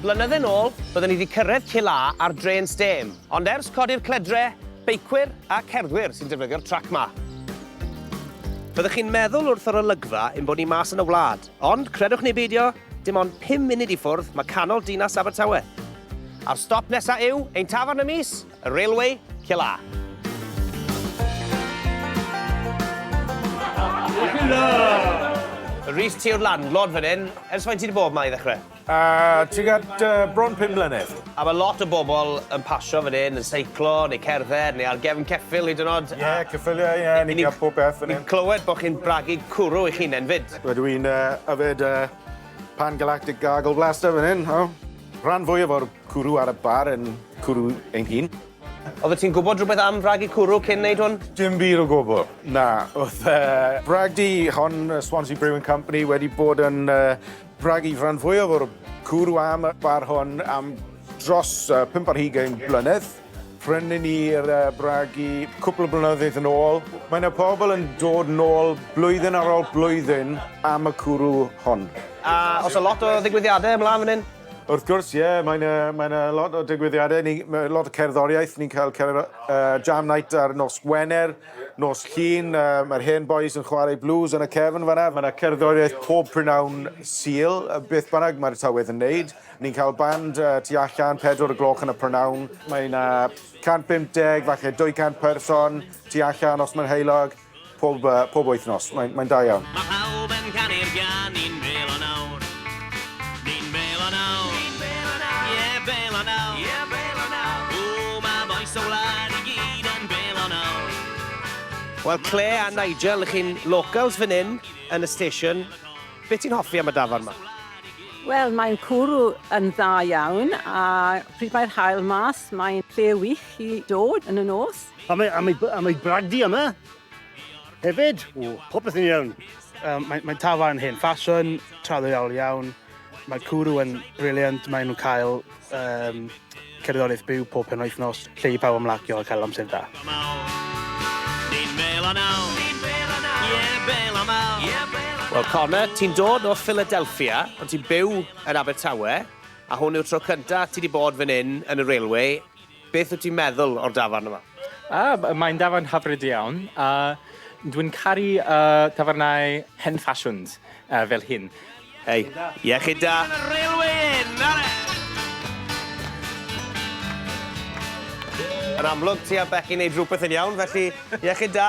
Blynydde nôl, byddwn ni wedi cyrraedd Cill A ar drên stêm, ond ers codi'r cledre, beicwyr a cerddwyr sy'n defnyddio'r trac 'ma. Fyddwch chi'n meddwl wrth yr olygfa ein bod ni mas yn y wlad, ond credwch neu beidio, dim ond pum munud i ffwrdd mae canol dinas Abertawe. A'r stop nesa' yw ein tafarn y mis! Y Railway, Cil A. Rhys, ti yw'r landlord fan hyn. Ers faint ti wedi bod yma i ddechrau? Uh, Tuag at uh, bron pum mlynedd. A mae lot o bobl yn pasio fan hyn, yn seiclo, neu cerdded, neu ar gefn ceffil hyd yn oed. Ie, yeah, ceffyliau, ie, yeah, ni'n cael pob beth fan hyn. Ni'n clywed bod chi'n bragu cwrw i chi'n enfyd. Wel, dwi'n uh, yfed uh, pan-galactic gargle blaster fan hyn. Oh. Rhan fwyaf o'r Cwrw ar y bar yn cwrw ein hun. Oeddet ti'n gwybod rhywbeth am fragu cwrw cyn wneud hwn? Dim byd o gwbl, na. Oedd y bragdy hon, y Swansea Brewing Company, wedi bod yn bragu rhan fwyaf o'r cwrw am y bar hwn am dros pump ar hugain blynedd. Prynnu ni'r bragu cwpl o blynyddoedd yn ôl. Mae yna pobl yn dod nôl blwyddyn ar ôl blwyddyn am y cwrw hon. A oes 'na lot o ddigwyddiadau ymlaen fan hyn? Wrth gwrs, ie, yeah, mae'n uh, mae yna lot o digwyddiadau, ni, lot o cerddoriaeth, ni'n cael cer, uh, jam night ar nos Gwener, nos Llun, uh, mae'r hen boys yn chwarae blues yn y cefn fanna, mae yna cerddoriaeth pob prynawn syl, beth bynnag mae'r tywydd yn neud. Ni'n cael band uh, tu allan, pedwr y gloch yn y prynawn, mae yna 150, falle 200 person tu allan os mae'n heilog, Pob, uh, pob wythnos. Mae'n mae da iawn. Mae pawb yn canu'r gan, ni'n bel o nawr. Ni'n bel o nawr. Ni'n bel o nawr. Ie, yeah, bel o nawr. Ie, yeah, bel o nawr. O, mae boes o wlad i gyd yn bel o nawr. Wel, Claire a Nigel, chi'n locals fan hyn, yn y station. Be ti'n hoffi am y dafarn ma? Wel, mae'n cwrw yn dda iawn a pryd mae'r haul mas, mae'n lle wych i dod yn y nos. A mae, a mae, a mae bragdi yma hefyd. O, popeth yn iawn. Um, Mae'n mae tafa yn hen ffasiwn, traddodiadol iawn. Mae cwrw yn briliant, maen nhw'n cael um, cerddoriaeth byw pob penwythnos, lle i pawb ymlacio a cael amser da. Ni'n bel o naw, Wel, Connor, ti'n dod o Philadelphia, ond ti'n byw yn Abertawe, a hwn yw'r tro cyntaf ti wedi bod fan hyn yn y railway. Beth wyt ti'n meddwl o'r dafarn yma? Yy mae'n dafarn hyfryd iawn a dwi'n caru yy tafarnau hen ffasiwn yy fel hyn. Hei. Iechyd da! Ar y railway inn! Are! Yn amlwg ti a Becky neud rwbeth yn iawn felly iechyd da!